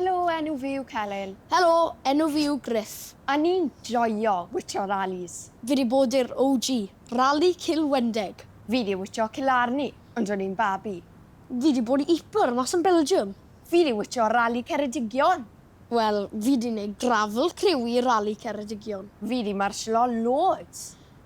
Helo, enw fi yw Celyn. Helo, enw fi yw Griff. A ni'n joio witsio ralis. Fi 'di bod i'r OG, Rali Cilwendeg. Fi 'di witsio Killarney ond o'n i'n babi. Fi 'di bod i Ypres mas yn Belgium. Fi 'di witsio Rali Ceredigion. Wel, fi 'di neud gravel criw i Rali Ceredigion. Fi 'di marshlo loads.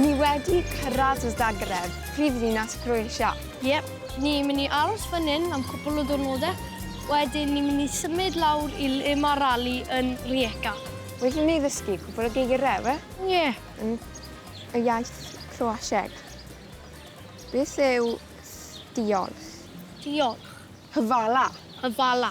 Ni wedi cyrraedd y Zagreb, prif ddinas Croatia. Yep, ni mynd i aros fan hyn am cwpl o diwrnode, wedyn ni mynd i symud lawr i le ma rali yn Rijeka. Wedi ni ddysgu cwpl o geigire, we? Ie. Yn y iaith Croasieg. Beth yw diolch? Diolch. Hyfala. Hyfala.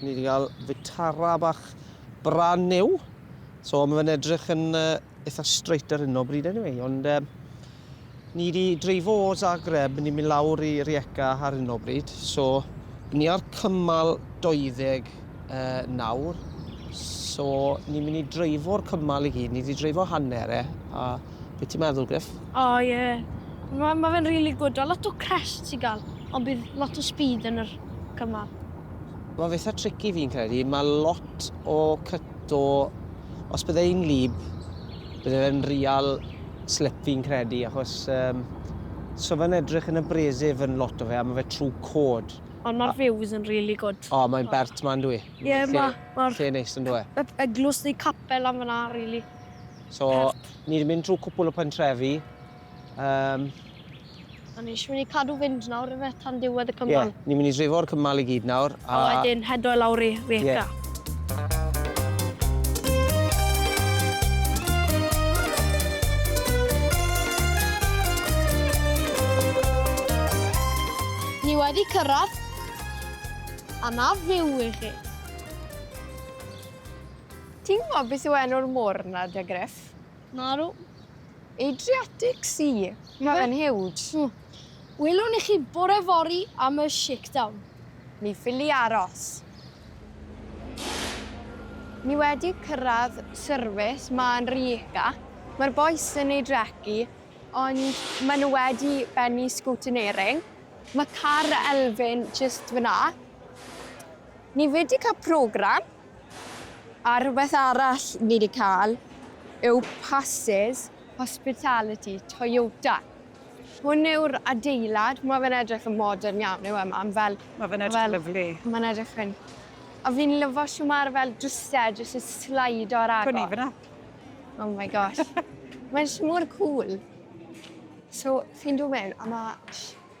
Ni wedi cael Vitara bach brand new. So mae fe'n edrych yn uh, eitha straight ar hyn o bryd anyway. Ond uh, ni wedi dreifo o Zagreb, ni'n mynd lawr i Rijeka ar hyn o bryd. So ni ar cymal 20 uh, nawr. So ni'n mynd i dreifo'r cymal i gyd, ni wedi dreifo hanner e. A Be ti'n meddwl, Griff? O, oh, ie. Yeah. Mae ma fe'n really good. A lot o crest i gael, ond bydd lot o speed yn yr cymal. Mae fe eitha tricky fi'n credu. Mae lot o cyto... Os bydde un lib, bydde fe'n real slip fi'n credu, achos... Um, so fe'n edrych yn y bresif yn lot o fe, a mae fe trwy cod. Ond mae'r views yn really good. O, oh, mae'n bert ma'n dwi. Ie, yeah, mae... Lle neis yn dwi. Eglwys neu capel am fyna, really. So, ni wedi mynd trwy cwpl o pentrefi. Um, a ni eisiau mynd i cadw fynd nawr efe tan diwedd y cymal. Ie, yeah, ni'n mynd i drifo'r cymal i gyd nawr. A, a wedyn hedo i lawr i Rijeka. Yeah. wedi cyrraedd a na fyw i chi. Ti'n gwybod beth yw enw'r môr 'na, 'da Gruff? Nadw. Adriatic Sea. Mae fe'n huge. Mm. Welwn i chi bore fori am y shakedown. Mi ffili aros. Ni wedi cyrraedd service, mae'n Rijeka. Mae'r bois yn ei drecu, ond maen nhw wedi bennu scoutinering. Mae car Elfyn jyst fyna. Ni wedi cael program. A rhywbeth arall ni 'di cael yw passes hospitality Toyota. Hwn yw'r adeilad, ma' fe'n edrych yn modern iawn yw e mam fel... Ma' fe'n edrych yn lyfli. Ma'n edrych yn... A fi'n lyfo shwt ma'r fel drwse jyst yn sleido ar agor. Cwn i fynna. Oh my gosh. Mae jyst mor cŵl. So chi'n dod mewn a ma'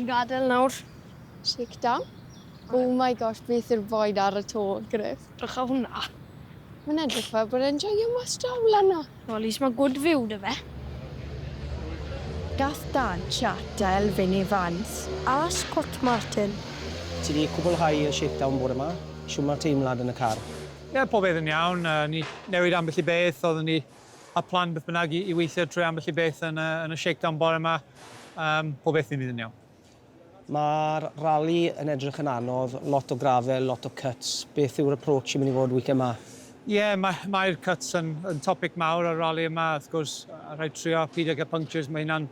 ni'n gadael nawr. Shakedown. Oh my gosh, beth yw'r boen ar y to, Griff? Drycha hwnna. Mae'n edrych fel bod e'n joio mas draw lan 'na. Well least ma good view da fe. Gall Dan chat a Elfyn Evans a Scott Martin. Ti di cwblhau y shakedown bore ma? Shwd ma'r teimlad yn y car? Ie, pob peth yn iawn. O'n i newid ambell i beth, oeddwn ni â plan beth bynnag i weithio trwy ambell i beth yn y shakedown bore ma. Pob peth di mynd yn iawn. Mae'r rali yn edrych yn anodd, lot o grafel, lot o cuts. Beth yw'r approach sy'n mynd i fod weekend ma? Ie, mae'r cuts yn topic mawr ar rali yma, wrth gwrs. Rhaid trio pidio cael punctures, mae hynna'n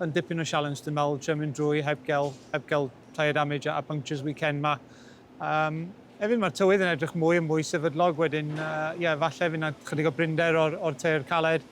yn dipyn o sialens dwi'n meddwl, trio mynd drwy heb gael tyre damage a punctures weekend ma. Hefyd mae'r tywydd yn edrych mwy a mwy sefydlog wedyn, ie, falle fydd 'na chydig o brinder o'r tyre caled.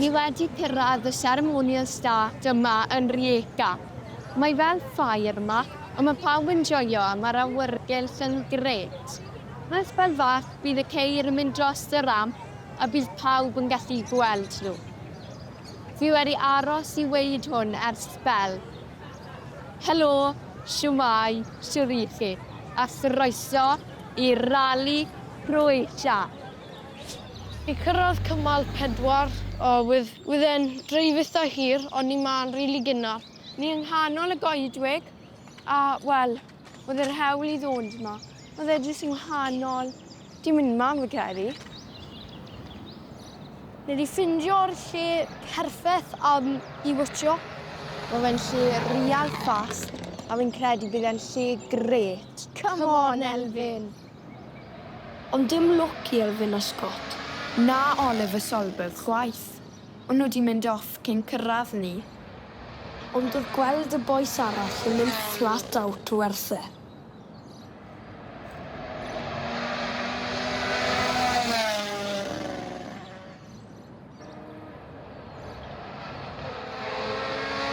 Ni wedi cyrraedd y seremoniau start yma yn Rijeka. Mae fel ffair yma, ond mae pawb yn joio a mae'r awyrgylch yn grêt. Wrth bêl fach bydd y ceir yn mynd drost y ramp a bydd pawb yn gallu gweld nhw. Fi wedi aros i weud hwn ers sbel. Helo, shwmae, shwt y'ch chi? A chroeso i Rali Croatia! I cyrraedd cymal pedwar. O wedd wedd e'n dreif itha hir on ni ma'n rili gynnar. Ni yng nghanol y goedwig a wel wedd yr hewl i ddod yma. Wedd e jyst yng nghanol dim myn ma fi credu. Ni di ffindio'r lle perffaith am i wtsio. Ma fe'n lle real fast a fi'n credu bydd e'n lle grêt. Come on Elfyn! Ond dim lwc i Elfyn a Scott, na Oliver Solberg chwaith, o'n nhw 'di mynd off cyn cyrraedd ni. Ond oedd gweld y bois arall yn mynd flat out werth e.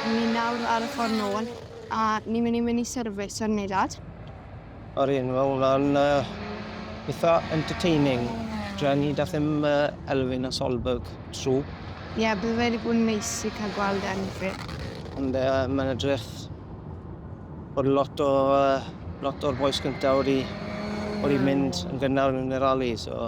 Ni nawr ar y ffordd nôl a ni'n mynd i mynd i service ar Neuadd. Yr un, mae hwnna'n uh, eitha entertaining. Dra ni dath ddim uh, Elfyn a Solberg trw. Ie, yeah, bydd wedi bod yn neis i cael gweld Elfyn. Ond uh, mae'n edrych bod lot o uh, lot o'r boes gyntaf wedi wedi mynd yn gynnar yn y rali, so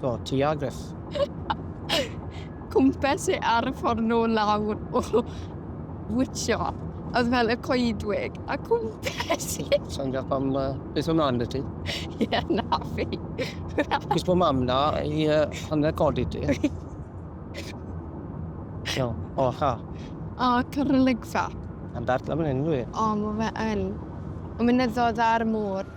Do, ti a Griff. Cwmpes e ar y ffordd nôl lawr o witsio. Oedd fel y coedwig, a cwmpes e. Sa'n gael pam uh, beth o'n mlaen ti? Ie, yeah, na fi. Cys bod mam na i uh, hanner codi ti. no, o, ha. O, cyrrylygfa. Am dart am hyn, dwi. O, mae fe yn. Mae'n mynyddodd ar y môr.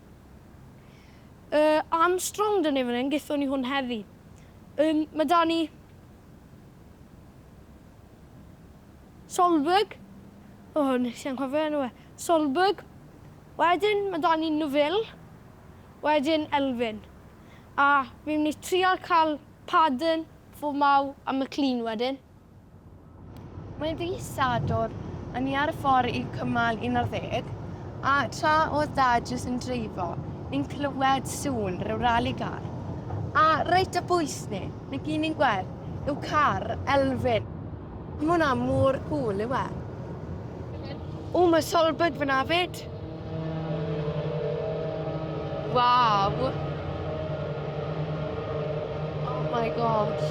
Yy, am strong dynnu fan hyn, gethon ni hwn heddi. Yn, mae da ni... Solberg. O, oh, nes i anghofio enw e. Solberg. Wedyn, mae da ni Nufil. Wedyn, Elfyn. A fi'n mynd i trial cael Paden, Fomau a McLean wedyn. Mae fis Sadwrn, a ni ar y ffordd i cymal 11, a tra oedd Dad jyst yn dreifo, ni'n clywed sŵn rhyw rali car. A reit o bwys ni, ni gyd ni'n gweld yw car Elfyn. Mae hwnna mor cŵl, yw e? O, mae Solberg fan'na 'fyd! Cwrt. Waw! Oh my gosh.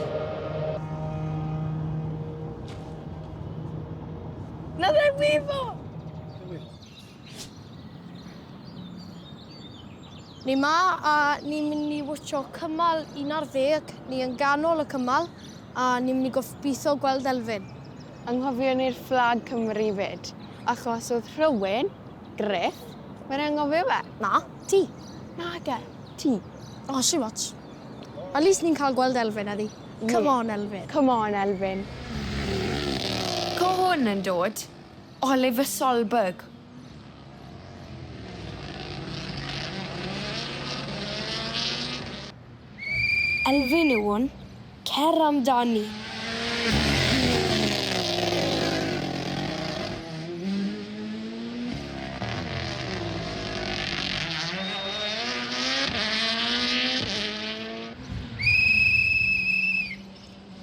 Na fe wifo! Ni ma a ni'n mynd i watcho cymal 11, ni yn ganol y cymal a ni'n mynd i goffbitho gweld Elfyn. Anghofion i'r fflag Cymru 'fyd, achos oedd rhywun, Griff, wedi anghofio fe. Na, ti. Nage, ti. O, shwm ots. At least ni'n cael gweld Elfyn heddi. Come on, Elfyn. Come on, Elfyn. Co hwn yn dod? Oliver Solberg. Elfyn Iwan, cer amdani!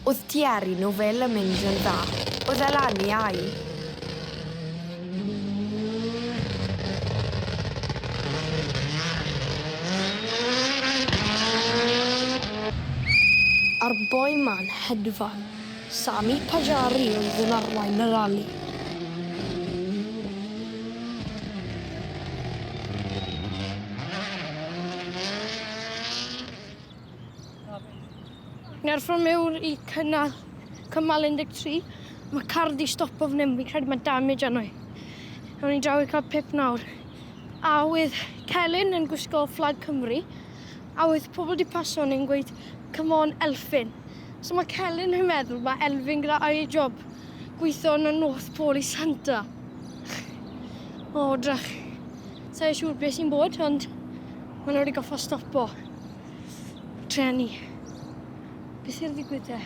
Oedd diaru nhw fel yn mynd yn dda. Oedd e lan i au. a'r boi ma'n hedfan. Sami Pajari oedd yn arwain y rali. Nerfwn miwn i cynnal cymal 13. Mae car di stopo fan hyn, fi'n credu mae damage arno i. Ewn ni draw i cael pip nawr. A oedd Celyn yn gwisgo fflag Cymru, a oedd pobl di paso ni'n gweud, come on Elfyn. So mae Celyn yn meddwl mae Elfyn gyda air job gweithio yn y North Pole i Santa. o, drach. Sa'i siŵr beth sy'n bod, ond maen nhw wedi goffa stopo. Treni. Be sy'n ddigwydd de?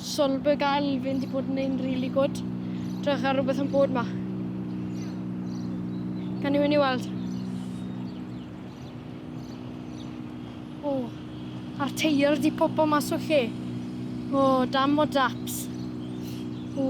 Solberg a Elfyn di bod yn ein really good. Drach ar rhywbeth yn bod ma. Gan i mynd i weld. O, a'r teir di popo mas o lle. O, dam o daps. O.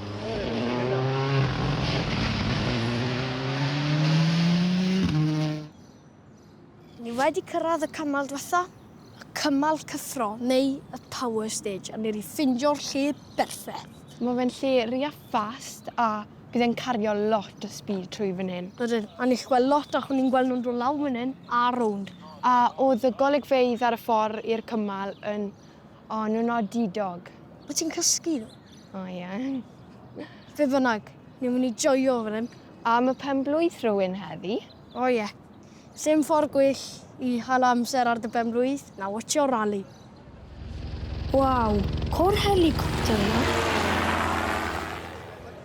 Ni wedi cyrraedd y cymal diwetha, y cymal cyffro neu y power stage a ni wedi ffindio'r lle berffeth. Mae fe'n lle rea fast a bydd e'n cario lot o speed trwy fan hyn. Ydyn, a ni'n gallu gweld lot achos ni'n gweld nhw'n dod lawr fan hyn a rownd. A oedd y golygfeydd ar y ffordd i'r cymal yn O, nhw'n nodidog. Wyt ti'n cysgu? O, ie. Yeah. Fe fynnag, ni'n mynd i joio fan hyn. A mae pen blwydd rhywun heddi? O, ie. Yeah. Sym ffordd gwyll i hal amser ar dy pen blwydd na watcho rali. Waw, cor helicopter yma.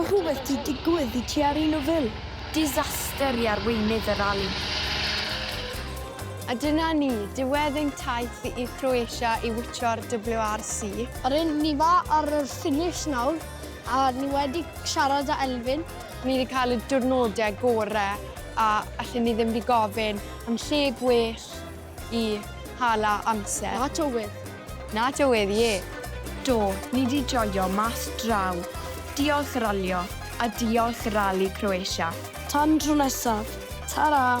Mae rhywbeth di digwydd i ti ar un o Fil. Disaster i arweinydd y rali. A dyna ni, diwedd ein taith i Croatia i wtsio'r WRC. R'yn ni fa ar y ffinish nawr a ni wedi siarad â Elfyn. Ni 'di cael y diwrnode gore a allen ni ddim 'di gofyn. Yn lle gwell i hala amser. Na tywydd. Na tywydd, ie. Do, ni 'di joio mas draw. Diolch Ralio, a diolch Rali Croatia. Tan tro nesaf, tara!